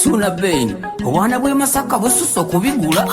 Suna Bain, obwana bw'e Masaka bususse okubigula.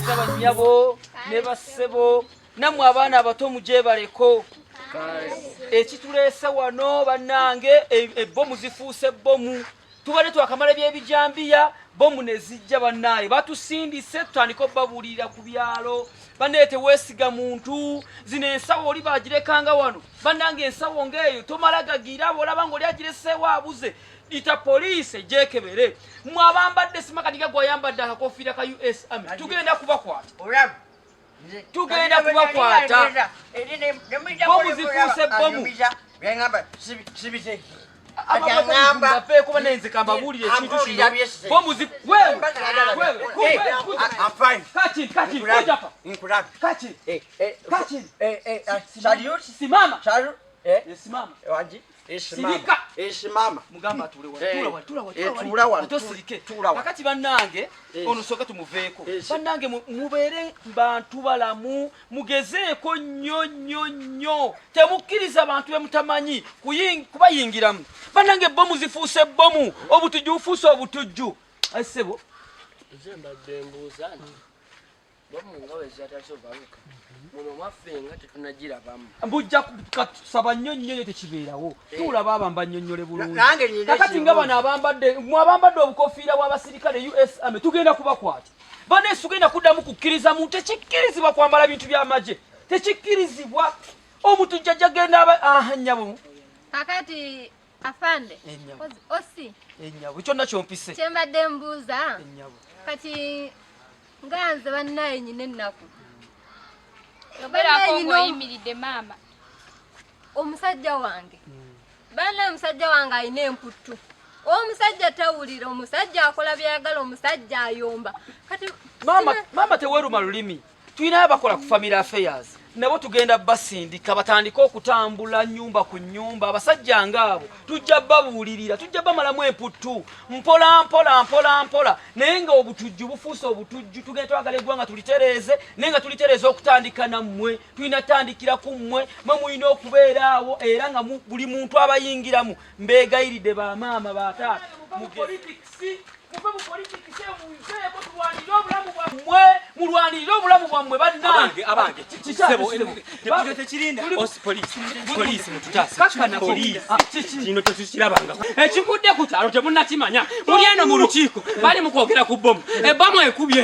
Bannyabo ne bassebo nammwe abaana abato mugyebaleko ekituleese wano bannange e, ebbomu zifuuse bbomu tubadde twakamala ebyebijambiya bomu nezijja bannaaye batusindise tutandika obabuulirira ku byalo banaye teweesiga muntu zino ensawo oli bagirekanga wano bannange ensawo ngaeyo tomala gagira abaolaba nga oli agireseewo abuze ita poliisi egyekebere mwe abambadde simakadiga gwayambadde akakofiira ka us army tugenda kubakwata tugenda kubakwata bomu zifuuse bomu kakati banange ono soka tumuveeko banange mubeere bantu balamu mugezeeko nnyo nnyo nnyo temukkiriza bantu bemutamanyi kubayingiramu banange bomu zifuuse bomu obutujju bufuuse obutujju asebo nze mbadde mbuuza nti mbujja kusaba nnyo nnyo nyo tekibeerawo eh. tuula baaba mbanyonyole bulungikati nga bano abambadde mwe abambadde obukofiira bw'abasirikale us ame tugenda kubakwata baneesi tugenda kuddamu kukkiriza muntu tekikkirizibwa kwambala bintu by'amagye tekikkirizibwa omuntu jjajja genda aba aha nnyabo kakati afande osi ennyabo kyonna kyompise kyembadde mbuuza kati nga nze bannaye nyina ennaku obeerako ngaoyimiridde maama omusajja wange hmm. banna omusajja wange alina emputtu omusajja tawulira omusajja akola byayagala omusajja ayomba kati maama teweruma lulimi tulinayo abakola ku family affairs nabo tugenda basindika batandike okutambula nyumba ku nyumba abasajja ngaabo tujja babuulirira tujja bamalamu emputtu mpola mpola mpola mpola naye nga obutujju bufuuse obutujju tugenda twagala eggwanga tulitereeze naye nga tulitereeza okutandika nammwe tulina tandikira ku mmwe mwe mulina okubeeraawo era nga buli muntu abayingiramu mbeegayiridde ba maama ba taata mulwanirire obulamu bwammwe bannange abange kino tetukirabanga ekigudde ku kyalo temunakimanya muli eno mu lukiiko bali mu kwogera ku bbomu ebbamu ekubye